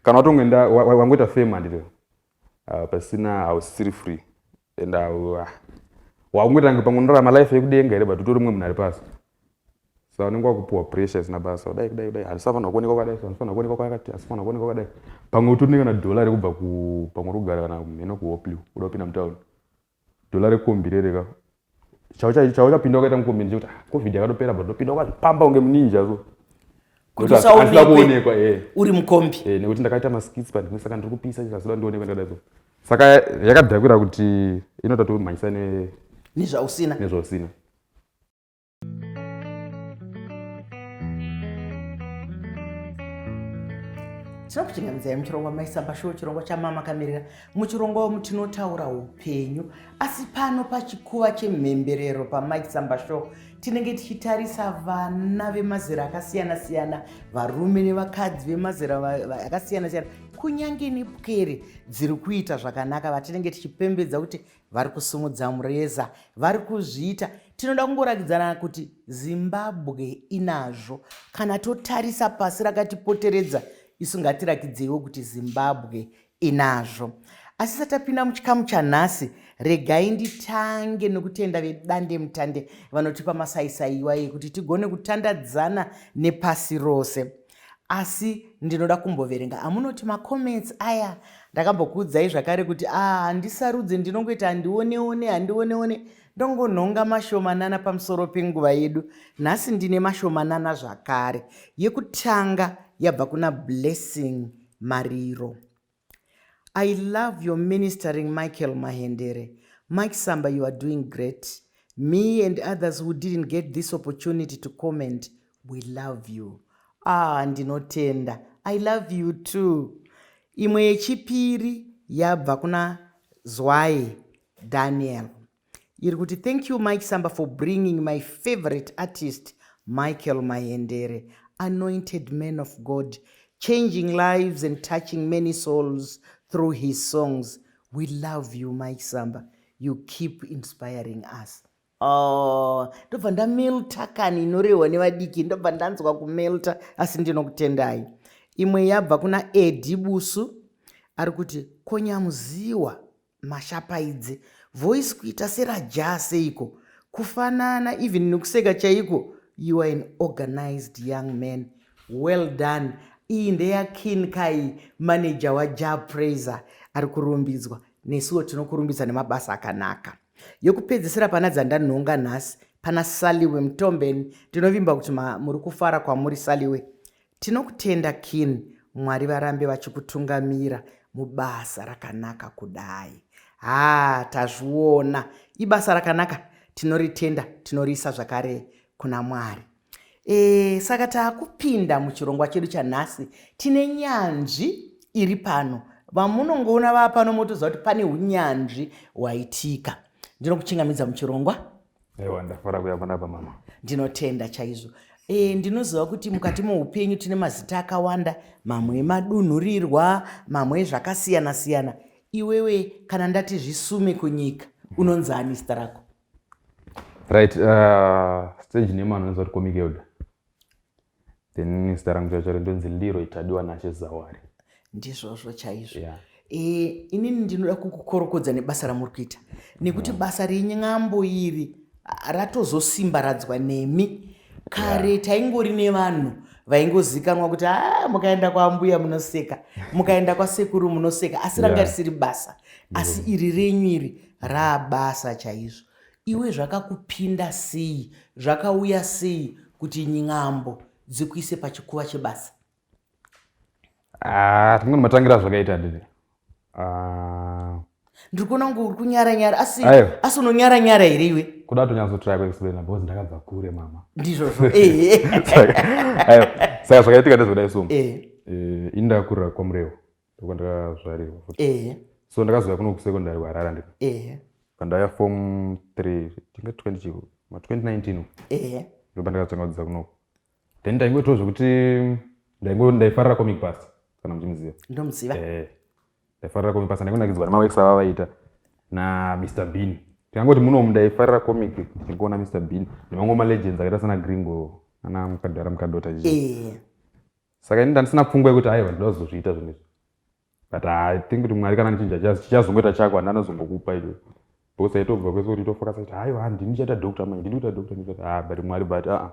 kana watongoenda wangoita fame handito ah, pasina hausisiri free and ah, wakungotange pamwe unorarama life yekudenga here but utori mumwe munhu ari pasi sa unenge wakupiwa pressure isina basa kudai kudai kudai handisafanira kuonekwa kwakadai handifanira kuonekwa kwakati hasifanira kuonekwa kwakadai pamwe utori nekana dollar rekubva pamwe uri kugara kana mheno kuhoplew uda kupinda mutown Dollar rekombi rere ka. Chao chao chao chapinda wakaita mukombi ndikuti ah, covid yakatopera but ndopinda wakazvipamba kunge muninja so. Kuti Nokuti handina usaonekwe kuonekwa eh. uri mukombi. Eh, nekuti ndakaita maskits panhimwe saka ndiri kupisa chikazoda ndionekwe ndakadai so saka yakadhakwira kuti inoda tomhanyisa ne- Nezvausina. nezvausina tinoda kuchingamidza muchirongwa maisamba shuwo chirongwa chamama kamirira muchirongwa womu tinotaura upenyu asi pano pachikuva chemhemberero pamaisamba shuwo tinenge tichitarisa vana vemazera akasiyana siyana varume nevakadzi vemazera akasiyana siyana kunyange nepwere dziri kuita zvakanaka vatinenge tichipembedza kuti vari kusimudza mureza vari kuzviita tinoda kungoratidzana kuti zimbabwe inazvo kana totarisa pasi rakatipoteredza isu ngatirakidzeiwo kuti zimbabwe inazvo asi satapinda muchikamu chanhasi regai nditange nokutenda vedande mutande vanotipa masaisaiwa yekuti tigone kutandadzana nepasi rose asi ndinoda kumboverenga amunoti macomments aya ndakambokuudzai zvakare kuti a ah, handisarudze ndinongoita handioneone handioneone ndongonhonga mashomanana pamusoro penguva yedu nhasi ndine mashomanana zvakare yekutanga yabva kuna blessing mariro I love your ministering Michael Mahendere, Mike Samba you are doing great, me and others who didn't get this opportunity to comment we love you. Ah ndinotenda, I love you too. Imwe yechipiri yabva kuna Zwayi Daniel. iri kuti thank you mike samba for bringing my favorite artist michael mahendere anointed man of god changing lives and touching many souls through his songs we love you mike samba you keep inspiring us oh, ndobva oh, ndamelta kani inorehwa nevadiki ndobva ndanzwa kumelta asi ndinokutendai imwe yabva kuna edi busu ari kuti konyamuziwa Mashapaidze. Voice kuita sera Jah seiko. Kufanana even nekuseka chaiko. You are an organized young man. Well done. Iyi ndeya Kin Kai manager wa Jah Praiser ari kurumbidzwa. Nesuwo tinokurumbidza nemabasa akanaka. Yokupedzisira pana dzandanhonga nhasi pana Saliwe Mtombeni. Ndinovimba kuti muri kufara kwamuri Saliwe. Tinokutenda kin mwari varambe vachikutungamira mubasa rakanaka kudai haa tazviona ibasa rakanaka tinoritenda tinoriisa zvakare kuna mwari e, saka taakupinda muchirongwa chedu chanhasi tine nyanzvi iri pano vamunongoona vaa pano motoziva kuti pane unyanzvi hwaitika ndinokuchingamidza muchirongwa aiwa ndafara kuya panapa mama ndinotenda chaizvo e, ndinoziva kuti mukati moupenyu tine mazita akawanda mamwe emadunhurirwa mamwe ezvakasiyana siyana iwewe kana ndati zvisume kunyika unonzi ani zita rako right uh, stage name anoziva kuti komikelda then zita rangu chacho ndonzi leroy tadiwa nashe zawari ndizvozvo chaizvo yeah. e, inini ndinoda kukukorokodza nebasa ramuri kuita nekuti yeah. basa renyambo iri ratozosimbaradzwa nemi kare yeah. taingori nevanhu vaingozikanwa kuti a ah, mukaenda kwaambuya munoseka mukaenda kwasekuru munoseka asi ranga yeah. risiri basa asi yeah. iri renyu iri raabasa chaizvo Iwe zvakakupinda sei zvakauya sei kuti n'ambo dzikuise pachikuva chebasa? Ah, rimweni matangira zvakaita dede. Ah. Ndiri kuona kunge uri kunyara nyara asi asi unonyara nyara here iwe? Kuda tonyatsotraya kuexplaina because ndakabva kure mama. Ndizvozvo. Eh. Saka zvakaitika ndezvakadai so. Eh. eh indakurira kwaMurehwa. ndokwandakazvarirwa futi ehe so ndakazouya kuno kusekondary kuharara ndiko ehe pandaya form three tinga twenty chiko ma twenty nineteen ehe ndo pandakazotanga kudzidza kunoko then ndaingoitwa zvekuti ndaingo ndaifarira comic bus kana muchimuziva ndomuziva ehe ndaifarira comic bus ndaingonakidzwa nemaworks ava vaita na mr bean tikangoti munomu ndaifarira comic ndichingoona mr bean nemamwe malegends akaita sana gringo ana mukadhara mukadota chii ehe saka ini ndandisina pfungwa yekuti aiwa ndoda kuzozviita zvinhu izvi but i think kuti mwari kana ndichinja chichazongoita chako handi anozongokupa icho because aitobva kwese kuti tofokasa kuti aiwa handi ndichaita doctor manje ndiri kuita doctor ndichaita ah but mwari but aa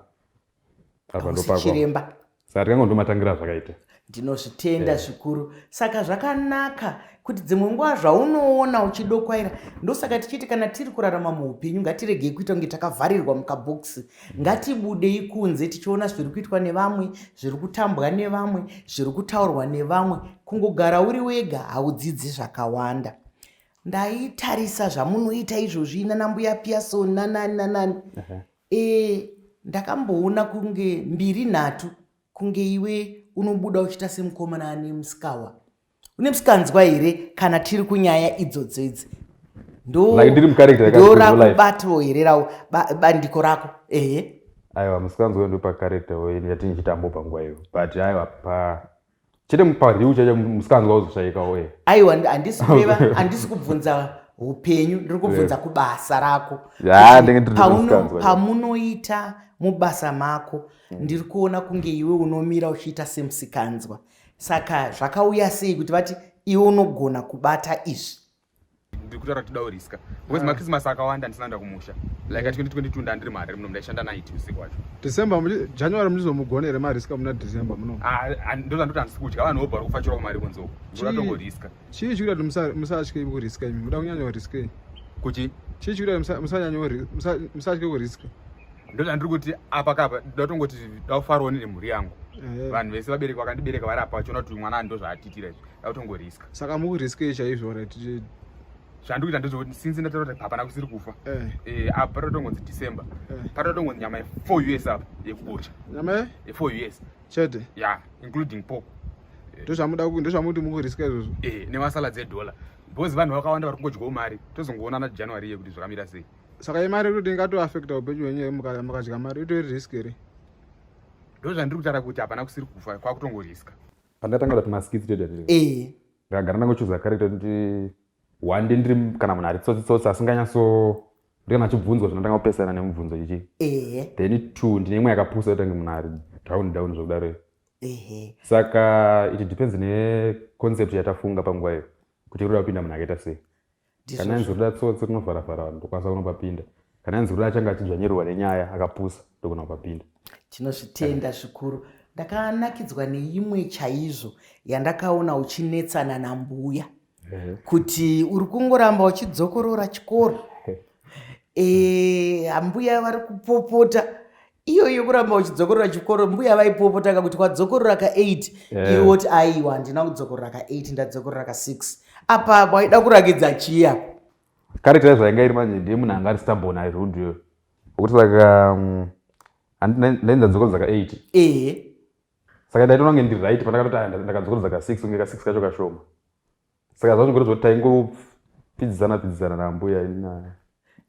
apa ndopachiremba saka tikanga ndomatangira zvakaita ndinozvitenda eh. zvikuru yeah. saka zvakanaka kuti dzimwe nguva zvaunoona uchidokwaira ndosaka tichiti kana tiri kurarama muupenyu ngatiregei kuita kunge takavharirwa mukabhokisi ngatibudei kunze tichiona zviri kuitwa nevamwe zviri kutambwa nevamwe zviri kutaurwa nevamwe kungogara uri wega haudzidzi zvakawanda ndaitarisa zvamunoita izvozvi nanambuya piason nanani nanani e ndakamboona kunge mbiri nhatu kunge iwe unobuda uchiita semukomana ane musikawa une msikanzwa here kana tiri kunyaya idzodzo idzi ndorakubatwo here rao bandiko rako ehe aiwa msikanzwa yo ndopakarekta ini yati ndichitambo panguva iyo but aiwa pa chete pariu chacho msikanzwa uzoshaikawo e aiwa handisi kureva handisi kubvunza upenyu ndiri kubvunza kubasa rako pamunoita mubasa mako hmm. ndiri kuona kunge iwe unomira uchiita semsikanzwa Saka zvakauya sei kuti vati iwe unogona kubata izvi? ndikutaura kuti dawo riska because ah. machristmas akawanda ndisina nda kumusha like at 2022 ndandiri mari muno ndaishanda night usiku wacho december january munizomugona here mariska muna december muno ah, ah, ndozandoti handisi kudya vanhu vobva vari kufachirawo mari kunzoko ndoratongoriska chii chikuita kuti musatye kuriska imi muda kunyanya kuriska kuti chii chikuita kuti musatye kuriska ndozvandiri kuti apa kapa ndatongoti daufaroni nemhuri yangu eh. vanhu vese vabereki vakandibereka vari apa vachiona kuti mwana ndo zvaatitira izvi dautongoriska saka mukuriskei chaizvo zvandiri kuita ndezvekuti since ndataura kuti hapana kusiri kufa eh. Eh, apa patotongonzi december patotongonzi nyama ye4 us apa yekubucha nyama ye4 us chete ya yeah, including pork ndozvamuda eh. ndozvamuti mukuriska izvozvo eh nemasalad edollar because vanhu vakawanda vari kungodyawo mari tozongoonana january iye kuti zvakamira sei saka imari irikuti ingatoaffecta upenyu hwenyu mukadya mari itori risk here ndo zvandiri kutaura kuti hapana kusiri kufa kwakutongoriska pandatanga kuti maskits toda eh. ndagara ndangochuza character kuti Hwande ndiri kana munhu ari tsotsi tsotsi asinganyatso ndiri kana achibvunzwa zvinotanga kupesana nemubvunzo chichi. Ehe. Then two ndine imwe yakapusa yotange munhu ari down down zvokudaro. Ehe. Saka it depends ne concept yatafunga panguva iyo kuti iri kuda kupinda munhu akaita sei. Kana yanzi kuda tsotsi rinovhara vhara vanhu ndokwanisa kunopapinda. Kana yanzi kuda achanga achidzvanyirwa nenyaya akapusa ndokona kupapinda. Tinozvitenda zvikuru. Ndakanakidzwa neimwe chaizvo yandakaona uchinetsana nambuya. mhm. kuti uri kungoramba uchidzokorora chikoro eh, ambuya vari kupopota iyo iyo kuramba uchidzokorora chikoro mbuya vaipopota ka kuti kwadzokorora ka 8 eh. iwe woti aiwa handina kudzokorora ka 8 ndadzokorora ka 6 apa waida kurakidza chiya karekta zvainga iri manje ndiye munhu anga ari stambon airuduyo okuti saka mm, ndainzadzokoro dzaka 8 ehe saka ndaitoona kunge ndiri right pandakatoti ah, ndakadzokorodza ka six kunge ka six kacho kashoma saka zvazvongoratidza kuti taingopfidzisana pfidzisana naambuya inaya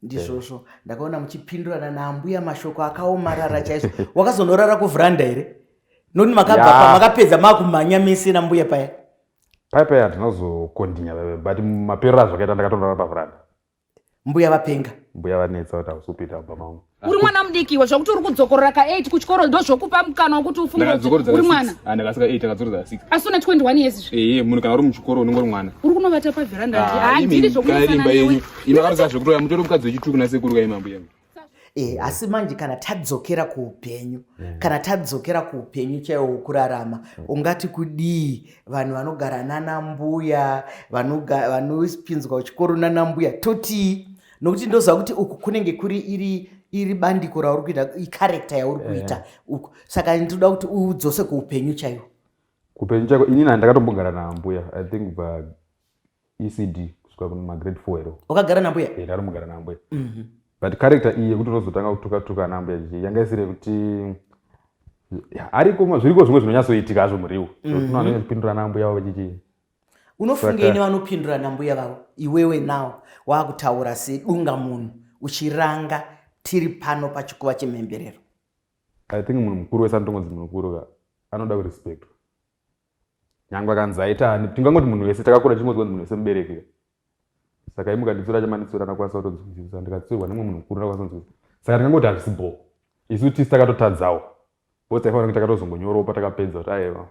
ndizvozvo yeah. ndakaona muchipindurana naambuya mashoko akaomarara chaizvo wakazonorara kuvhuranda here noti makabva yeah. pamakapedza makumhanya mese nambuya paya paya paya handina kuzokondinya but maperero azvakaita ndakatonora pavhuranda mbuya vapenga mbuya vanetsa kuti hausupita baba mangu uri mwana mudiki iwe zvakuti uri kudzokorora ka 8 kuchikoro ndo zvokupa mukana wekuti ufungeuri mwana ah, ndakasika 8 akadzorodza 6 asi une 21 years izvi ee eh, munhu kana uri muchikoro unenge uri mwana uri kunovata paveranda ah, handiri zvokuimba yenyu imakaroza zvekutoya mutori mukadzi wechituku nasekuru kaimambo yenyu e, asi manje kana tadzokera kuupenyu mm. kana tadzokera kuupenyu chaiwo wokurarama mm. ungati kudii vanhu vanogara nanambuya vanopinzwa kuchikoro nanambuya totii nokuti ndoziva kuti uku kunenge kuri iri iri bandiko rauri kuita icharekta yauri eh. kuita yeah. uku saka ndinoda kuti udzose kuupenyu chaiwo kuupenyu chaiko inini handakatombogara naambuya i think but ecd kusvika kumagrade four ero wakagara nambuya e ndarimugara nambuya mm -hmm. but character iyi yekuti unozotanga kutuka tuka nambuya jiji yanga isiri yekuti ariko zviriko zvimwe zvinonyatsoitika hazvo muriwo mm -hmm. unonyatso kupindura nambuya wavo chichii unofungei nevanopindura nambuya vavo iwewe nawo waakutaura sedunga munhu uchiranga tiri pano pachikuva chemhemberero i think munhu mukuru wese anotongonzi munhu mukuru ka anoda kurespectwa nyangwe akanzi aita ani tingangoti munhu wese takakura tichingonzwa kuti munhu wese mubereki saka imuka nditsura chamanditsura ndakwanisa kutonzwisisa ndikatsiurwa nemwe munhu mukuru ndakwanisa kunzwisisa saka tingangoti hazvisi bho isu tisi takatotadzawo bcause taifanira kuti takatozongonyorawo patakapedza kuti aiwa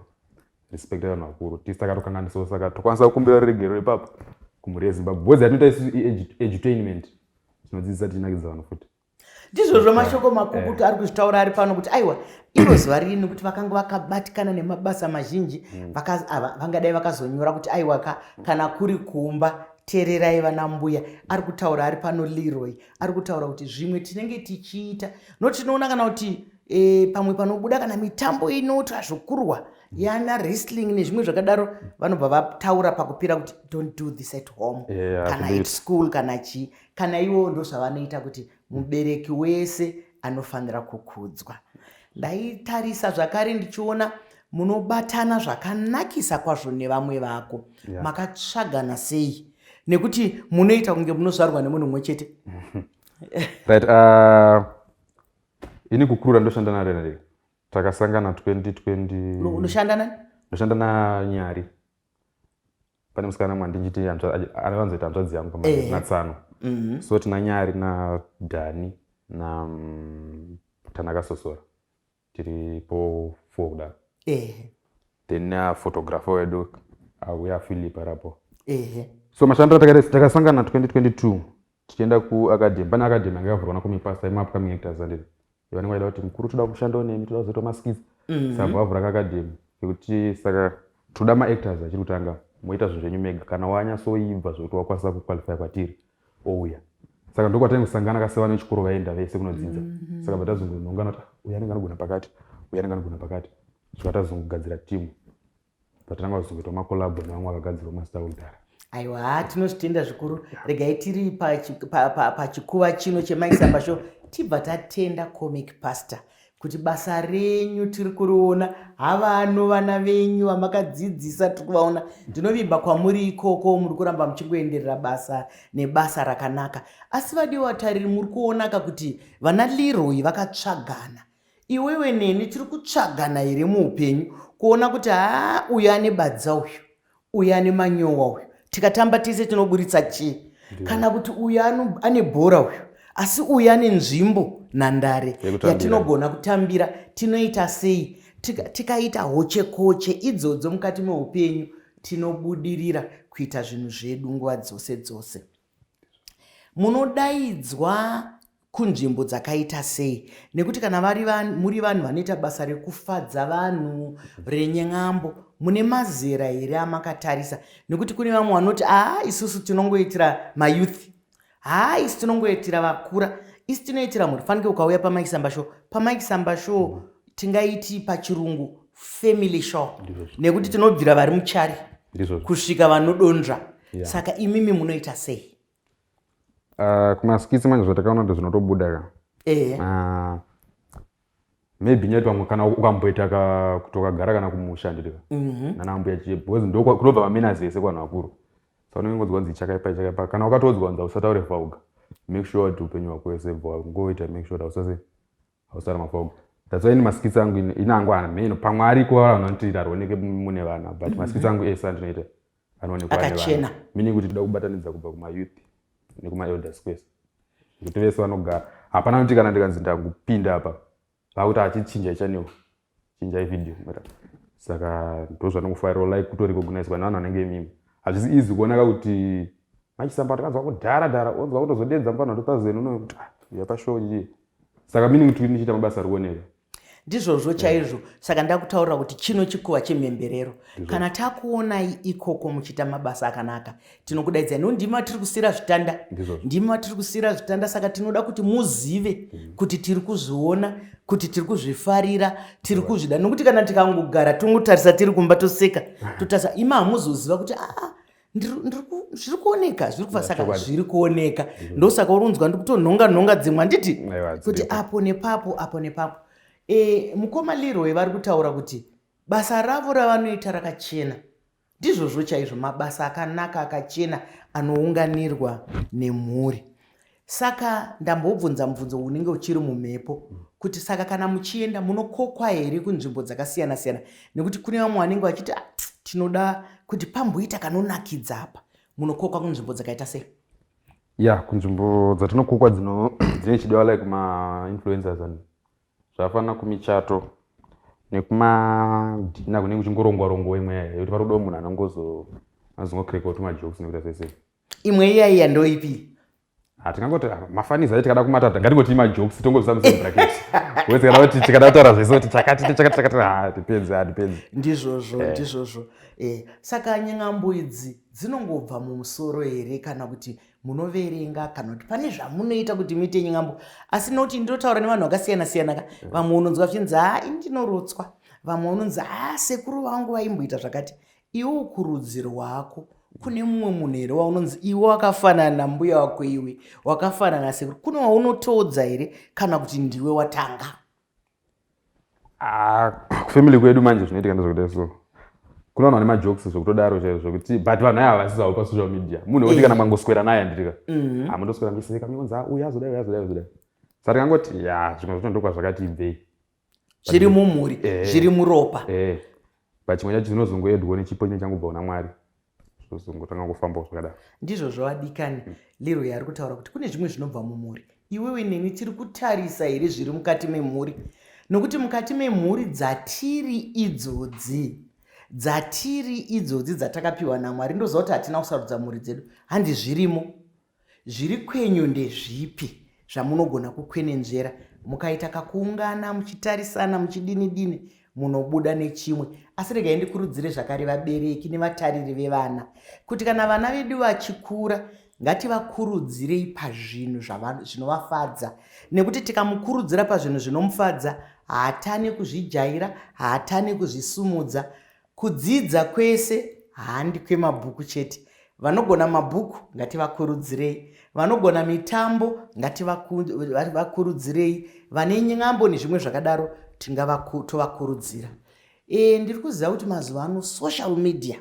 respect vanhu vakuru tisi takatokanganisawo saka tokwanisa kukumbira ruregero ipapo kumhuri yezimbabwe bcause yatinoita isu edutainment tinodzidzisa tichinakidza vanhu futi ndizvozvo mashoko makukutu eh. ari kuzvitaura ari pano kuti aiwa iro zuva ririni kuti vakanga vakabatikana nemabasa mazhinji mm. vangadai vakazonyora kuti aiwa ka kana kuri kumba teererai vana mbuya ari kutaura ari pano leroy ari kutaura kuti zvimwe tinenge tichiita no tinoona kana kuti e, pamwe panobuda kana mitambo inoitwa zvokurwa mm. yana wrestling nezvimwe zvakadaro vanobva vataura pakupira kuti don't do this at home yeah, kana at school kana chii kana ivowo ndozvavanoita kuti mubereki wese anofanira kukudzwa ndaitarisa zvakare ndichiona munobatana zvakanakisa kwazvo nevamwe vako yeah. makatsvagana sei nekuti munoita kunge munozvarwa nemunhu mumwe chete right uh, ini kukurura ndoshanda narenare takasangana 2020 unoshanda nani ndoshanda nanyari pane musikana mwa ndinjiti anowanzoita hanzvadzi yangu pamai natsano mhm. so tina nyari nadhani na mm, tanaka sosora tiri po four kudaro then uh, photographer wedu auya uh, philip arapo so mashando atakasangana 2022 tichienda kuacademy pane academy anga yavhurwa nakomipasa imapcoming actors andiri vanenge vaida kuti mukuru toda kushandawo nemi toda kuzoita maskits mhm. saka vavhura kakadhemi kekuti saka toda maactors achiri kutanga moita zvinhu zvenyu mega kana wanyasoibva zvekuti wakwanisa kuqualifya kwatiri ouya saka ndokwatani kusangana kasevana vechikoro vaenda vese kunodzinza mhm. saka vatazongonongana kuti uya anenge anogona pakati uya anenge anogona pakati zvikatazongogadzira timu patanga kuzokuita makolabo nevamwe vakagadzirwa mazita kudhara aiwa tinozvitenda zvikuru regai tiri pachikuva pa, pa, pa chino chemaisamba sho tibva tatenda comic pastor kuti basa renyu tiri kuriona havano vana venyu vamakadzidzisa tiri kuvaona ndinovimba kwamuri ikoko muri kuramba muchingoenderera basa nebasa rakanaka asi vadiwa tariri muri kuonaka kuti vana leroy vakatsvagana Iwewe neni tiri kutsvagana here muupenyu kuona kuti haa uyu ane badza uyu uyu ane manyowa uyu tikatamba tese tinoburitsa chii kana kuti uyu ane bhora uyu asi uyu ane nzvimbo nhandare yatinogona kutambira tinoita sei tikaita hochekoche idzodzo mukati meupenyu tinobudirira kuita zvinhu zvedu nguva dzose dzose Munodaidzwa kunzvimbo dzakaita sei nekuti kana vari vanhu muri vanhu vanoita basa rekufadza vanhu renyen'ambo mune mazera here amakatarisa nekuti kune vamwe vanoti haa isusu tinongoitira mayouth haa isu tinongoitira vakura isu tinoitira mhuri fanike ukauya pamike samba show pamike samba show tingaiti pachirungu family show nekuti tinobvira vari muchari kusvika vanodonzva yeah. saka imimi munoita sei uh, kumaskitsi manje zvatakaona kuti zvinotobuda ka eh. uh, maybe nyati vamwe kana ukamboita ka kuti wakagara kana kumusha nditika mm -hmm. nana ambuya chiye because ndokunobva vamina zese kwanhu vakuru saka unenge ngodzwa nzi chakaipa chakaipa kana ukatodzwa nza usataure vauga make sure kuti upenyu hwako wese bva ngoita make sure kuti usase hausara mafog that's why ini maskits angu ini angu ana meno pamwe ariko vanhu vanoti arwoneke mune vana but mhm. maskits angu ese andinoita anoonekwaakachena meaning kuti toda kubatanidza kubva kumayouth nekumaelders kwese kuti vese vanogara hapana kuti kana ndikanzi ndakupinda apa vakuti achichinja chaneo chinjai video mara saka ndozvanongofarira like kutorecognizwa nevanhu vanenge mimi hazvisi easy kuonaka kuti machisamba takanzwa kudhara dhara onzwa kutozodedza mupano 2000 uno kuti ah, yapashow chii saka meaning kuti ndichiita mabasa ari kuoneka ndizvozvo chaizvo saka ndakutaurira kuti chino chikuva chemhemberero kana takuonai ikoko muchiita mabasa akanaka tinokudaidzai no ndimi vatiri kusiyira zvitanda ndimi vatiri kusiyira zvitanda saka tinoda kuti muzive mm. kuti tiri kuzviona kuti tiri kuzvifarira tiri kuzvida nokuti kana tikangogara tongotarisa tiri kumba toseka totarisa ima hamuzoziva kuti aa ah, zviri kuoneka zviri kufa saka zviri kuoneka mm-hmm. ndosaka urunzwa ndikutonhonga nhonga dzimwe handiti kuti apo nepapo apo nepapo e, mukoma leroy vari kutaura kuti basa ravo ravanoita rakachena Ndizvozvo chaizvo mabasa akanaka akachena anounganirwa nemhuri. Saka ndambobvunza mubvunzo unenge uchiri mumhepo kuti saka kana muchienda munokokwa here kunzvimbo dzakasiyana siyana nekuti kune vamwe vanenge vachiti ah, tinoda kuti pamboita kanonakidza apa munokokwa kunzvimbo dzakaita sei ya kunzvimbo dzatinokokwa dzine chidiwa like mainfluencers and zvafana kumichato nekumadhina kunenge kuchingorongwa rongwa imwe yaya yekuti parodo munhu anongozo anozongokireka kuti majokes nekuita sese imwe iyaiya ndoipi hatingangoti ah, ah, mafaniza ayo tikada kumata ngatingoti majokes tongobvisa musame bracket wese kana kuti tikada kutaura zvese kuti chakati tichakati chakati ha depends ha depends ndizvozvo eh. ndizvozvo eh, saka nyengambo idzi dzinongobva mumusoro here kana kuti munoverenga kana kuti pane zvamunoita kuti muite nyingambo asi noti ndinotaura nevanhu vakasiyana siyana ka mm. vamwe unonzwa vachinzi haa ini ndinorotswa vamwe unonzi haa sekuru vangu vaimboita zvakati iwe ukurudziro hwako kune mumwe munhu here waunonzi iwe wakafanana nambuya wako iwe wakafanana sekuru kune waunotoodza here kana kuti ndiwe watanga Ah, family kwedu manje zvinoitika ndezvekuda so kune vanhu vane majokes zvekutodaro chaizvo zvekuti but vanhu aya havasizawo pasocial media munhu wekuti kana mangoswera naye anditika mm-hmm. amundoswera ah, miseka miunza uyu azodai uyu azodai azodai sa tikangoti ya zvimwe zvacho ndokwa zvakati ibvei zviri mumhuri eh. zviri muropa eh. but chimwe chacho chinozongoedwo nechipo chine changobva kuna mwari zvozongotanga kufambawo zvakadaro ndizvo zvavadikani mm. lero yaari kutaura kuti kune zvimwe zvinobva mumhuri iwewe neni tiri kutarisa here zviri mukati memhuri nokuti mukati memhuri dzatiri idzodzi dzatiri idzodzi dzatakapiwa namwari ndoziva kuti hatina kusarudza mhuri dzedu handi zvirimo Zviri kwenyu ndezvipi zvamunogona kukwenenzvera mukaita kakuungana muchitarisana muchidini dini munobuda nechimwe asi regai ndikurudzire zvakare vabereki nevatariri vevana kuti kana vana vedu vachikura ngativakurudzirei pazvinhu zvinovafadza nekuti tikamukurudzira pazvinhu zvinomufadza haatane kuzvijaira haatane kuzvisumudza Kudzidza kwese handi kwemabhuku chete. Vanogona mabhuku ngativakurudzirei, vanogona mitambo ngativakurudzirei, vane nyambo nezvimwe zvakadaro tovakurudzira. E, ndiri kuziva kuti mazuva ano social media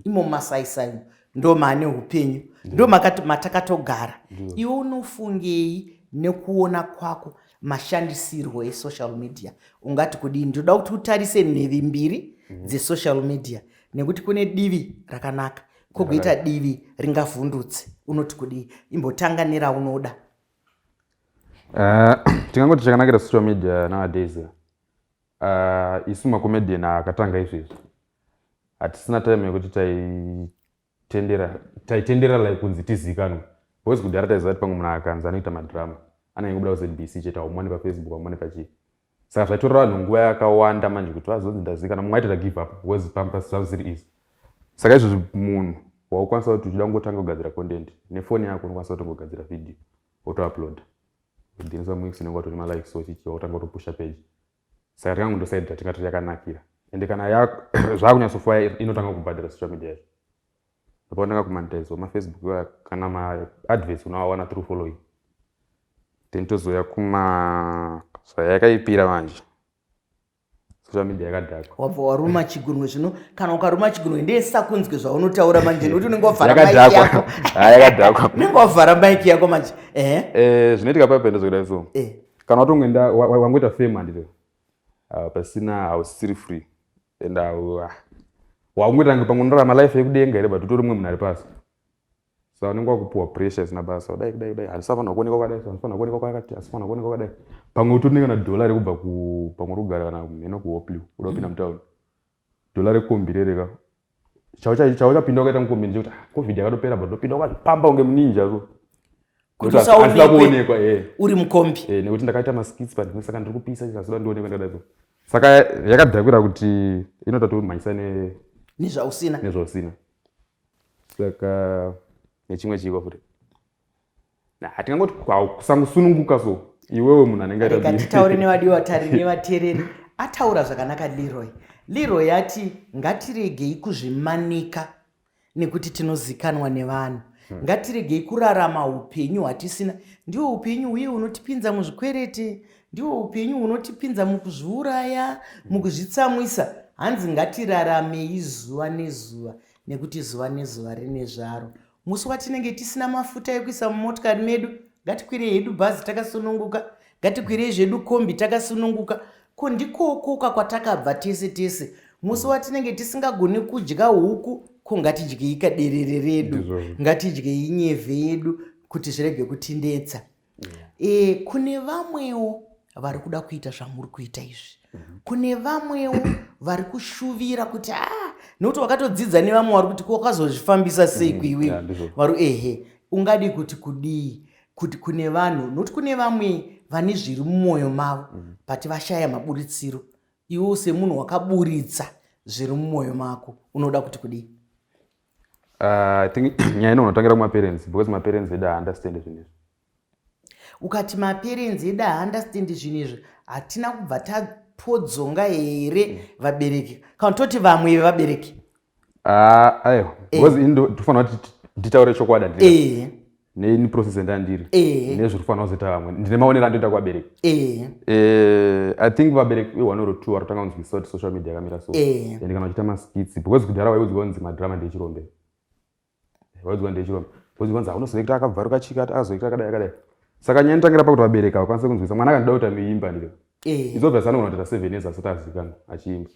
imo masaisai ndo maane upenyu ndo matakatogara. Iwe unofungei nekuona kwako? mashandisirwo esocial media ungati kudii ndinoda kuti utarise nhevi mbiri mhm. dzesocial media nekuti kune divi rakanaka kogoita divi ringavhundutse unoti kudii imbotanga neraunoda eh, tingangoti chakanakira social media nowadays eh, isu macomedian akatanga izvezvi hatisina time yekuti tai tendera taitendera like kunzi tizikanwe boys kudhara taiziva kuti pamwe munhu akanzi anoita madrama anenge kubuda kuzbc chete aumone pafacebook aumone pachii saka zvaitorera vanhu nguva yakawanda manje kuti vazonzi ndazikana mumwe aitira give up was pampas zvava zvisiri izi saka izvozvi munhu waukwanisa kuti uchida kungotanga kugadzira content nefoni yako unokwanisa kutongogadzira video wotouploada udhinisa muix unenge watone malikes ochichiwa wotanga kutopusha page Saka tanga kundosaid that ingatoti yakanakira ende kana ya zvakunyatsofuya inotanga kubhadhara social media izvo ndopandanga kumanitize wemafacebook iwaya kana maadverts unoawana through following then tozouya kuma zvayakaipira manje social media yakadhakwa wabva waruma chigunwe zvino kana ukaruma chigunwe ndesa kunzwe zvaunotaura manje nekuti unenge wavhara mike yako yakadhakwa unenge wavhara mike yako manje ehe eh, zvinoitika pape ndozokudai so eh. kana watongoenda wangoita fame handire ah, pasina hausisiri free and ah, wakungoita nge pamwe unorarama life yekudenga here but utori mumwe munhu ari pasi so anenge wakupiwa pressure isina basa kudai kudai kudai handisafanira kuonekwa kwakadai handifanira kuonekwa kwakati hasifanira kuonekwa kwakadai pamwe utori nekana dollar rekubva pamwe uri kugara kana mheno kuhopliw uda kupinda mm. mutown Dollar rekombi rere ka. Chaucha chaucha pinda ukaita mukombi nje kuti ah, covid yakatopera but ndopinda ukazvipamba unge muninja ko. Kuti Nekuti asi- asi usaonekwe. ndakuonekwa eh. uri mukombi Eh, nekuti ndakaita maskits but ndine saka ndiri kupisa chikazoda ndionekwe ndakadai so. Saka yakadhakwira kuti inoda tomhanyisa ne nezvausina nezvausina. Saka nechimwe chiko futi. hatingangoti kusangosununguka so iwewe munhu anenge atatitaure nevadevatari nevatereri ataura zvakanaka leroy leroy yati ngatiregei kuzvimanika nekuti tinozikanwa nevanhu hmm. ngatiregei kurarama upenyu hwatisina ndiwo upenyu huye hunotipinza muzvikwereti ndiwo upenyu hunotipinza mukuzviuraya hmm. mukuzvitsamwisa hanzi ngatirarame izuva nezuva nekuti zuva nezuva rine zvaro Musi watinenge tisina mafuta ekuisa mumotikari medu, ngatikwirei hedu bhazi takasununguka, ngatikwirei zvedu kombi takasununguka. Ko ndikokoka kwatakabva tese tese. Musi watinenge tisingagoni kudya huku, ko ngatidyei kaderere redu, ngatidyei nyevhe yedu kuti zvirege kutinetsa. e, kune vamwewo vari kuda kuita zvamuri kuita izvi mhm. kune vamwewo vari kushuvira kuti a ah, nokuti wakatodzidza nevamwe wari kuti kwakazozvifambisa sei mhm. kuiwe vari ehe ungadi kuti kudii kuti kune vanhu nokuti kune vamwe vane zviri mumwoyo mavo mhm. but vashaya maburitsiro iwo semunhu wakaburitsa zviri mumwoyo mako unoda kuti kudii Uh, think nyaya ino unotangira kumaparents because maparents edu haunderstand zvinhu izvi ukati maparents edu haunderstand zvinhu izvi hatina kubva tapodzonga here hmm. vabereki kana toti vamwe vevabereki ah, aiwa eh. because ini ndofanira kuti nditaure chokwadi handii eh. neini process yandandiri Ehe. nezviri kufanira kuzoita vamwe ndine maonero andoita kuvabereki Ehe. Eh, i think vabereki one or two varotanga kunzwisisa kuti social media yakamira so Ehe. and kana uchiita maskits because kudhara waiudzwa kunzi madrama ndechirombe waiudzwa ndechirombe waiudzwa kunzi aunozoita akabvaruka chika azoita akadai akadai saka nyaya inotangira pakuti vabereki havakwanise kunzwisisa mwana akandida kuti ameimba ndike Ehe. izobvesa anogona kutoita seven years asati azivikanwa achiimba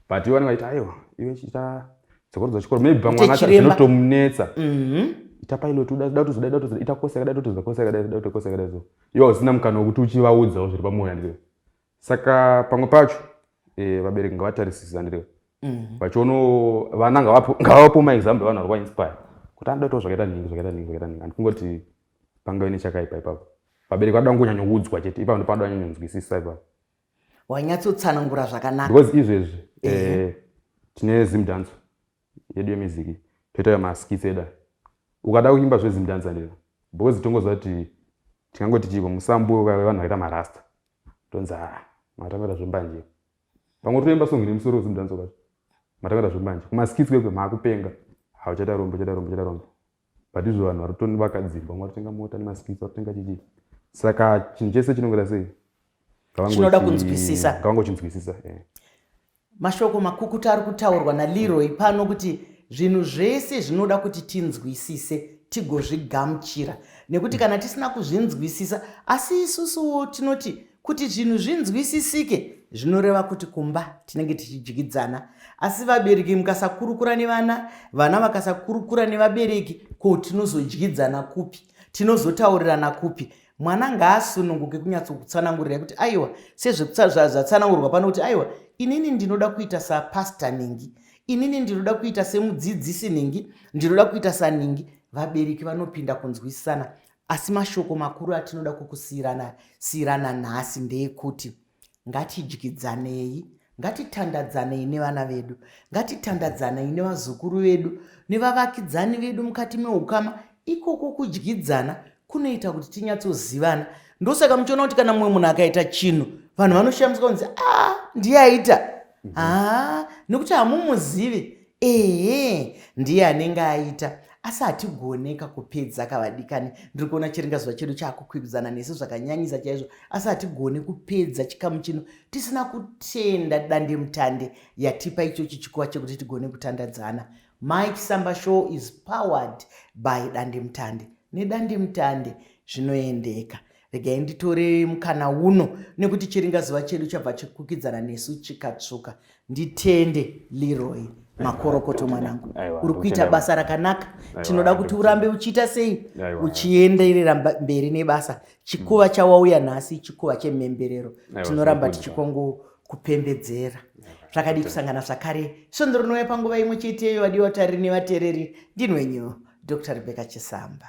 but ivo vanenge vaita aiwa iwe chiita tsokorodzo chikoro maybe pamwana zvinotomunetsa mhm. ita pilot uda kutozoda ida kutozoda ita kosi yakadai totozoda kosi yakadai ida kuita kosi yakadai so iwe hausina mukana wekuti uchivaudzawo zviri pamwoyo handirewe saka pamwe pacho eh, vabereki ngavatarisisa handirewe mhm. vachiono vana ngavapo maexample vanhu vari kwainspire kuti anoda kutaura zvakaita nhingi zvakaita nhingi zvakaita nhingi handikungoti pangave nechakaipa ipapo vabereki vanoda kungonyanyoudzwa chete ipapo ndopanoda nyanyonzwisisa ipapo wanyatsotsanangura zvakanaka because izvezvi eh, tine zimdanso yedu yemiziki toita maskits eda ukada kuimba zvezimdansa ndira because tongoziva kuti tingangoti chiiko musambo vanhu vakaita marasta tonzi a matamira zvembanje pamwe toimba songi nemusoro wezimdanso kacho matamira zvembanje kumaskits kwekwe maakupenga hauchata rombo chata rombo chata rombo but izvo vanhu vari kutoni vakadzirwa mwa totenga mota nemaskits vatotenga chichi saka chinhu chese chinongera sei chinoda kunzwisisa kavangochinzwisisa eh. mashoko makukuta ari kutaurwa naleroy pano kuti zvinhu zvese zvinoda kuti tinzwisise tigozvigamuchira nekuti kana tisina kuzvinzwisisa asi isusuwo tinoti Kuti zvinhu zvinzwisisike zvinoreva kuti kumba tinenge tichidyidzana asi vabereki mukasakurukura nevana vana vakasakurukura nevabereki ko tinozodyidzana kupi tinozotaurirana kupi mwana ngaasununguke kunyatsokutsanangurira kuti aiwa sezvezvatsanangurwa pano kuti aiwa inini ndinoda kuita sapasta ningi inini ndinoda kuita semudzidzisi ningi ndinoda kuita saningi vabereki vanopinda kunzwisisana asi mashoko makuru atinoda kukusiyirana siyirana nhasi ndeekuti ngatidyidzanei ngatitandadzanei nevana vedu ngatitandadzanei nevazukuru vedu nevavakidzani vedu mukati meukama ikoko kudyidzana kunoita kuti tinyatsozivana ndosaka muchiona kuti kana mumwe munhu akaita chinhu vanhu vanoshamiswa kunzi a ah, ndiye aita haa mhm. ah, nekuti hamumuzivi Ehe ndiye anenge aita asi hatigoneka kupedza kavadikani ndiri kuona chiringa zuva chedu chaakukwikwidzana nesu zvakanyanyisa chaizvo asi hatigone kupedza chikamu chino tisina kutenda dandemutande yatipa ichochi chikuva chekuti tigone kutandadzana mike samba show is powered by dandemutande nedandemutande zvinoendeka Regai nditore mukana uno nekuti chiringazuva chedu chabva chikukidzana nesu chikatsvuka. Nditende Leroy makorokoto mwanangu, uri kuita basa rakanaka. Tinoda kuti urambe uchiita sei, uchienderera mberi nebasa. Chikuva chawauya nhasi chikuva chemhemberero, tinoramba tichikongokupembedzera zvakadi kusangana zvakare svondo rinouya panguva imwe cheteyo vadiwa tariri nevatereri ndinwenyu dr rebecca chisamba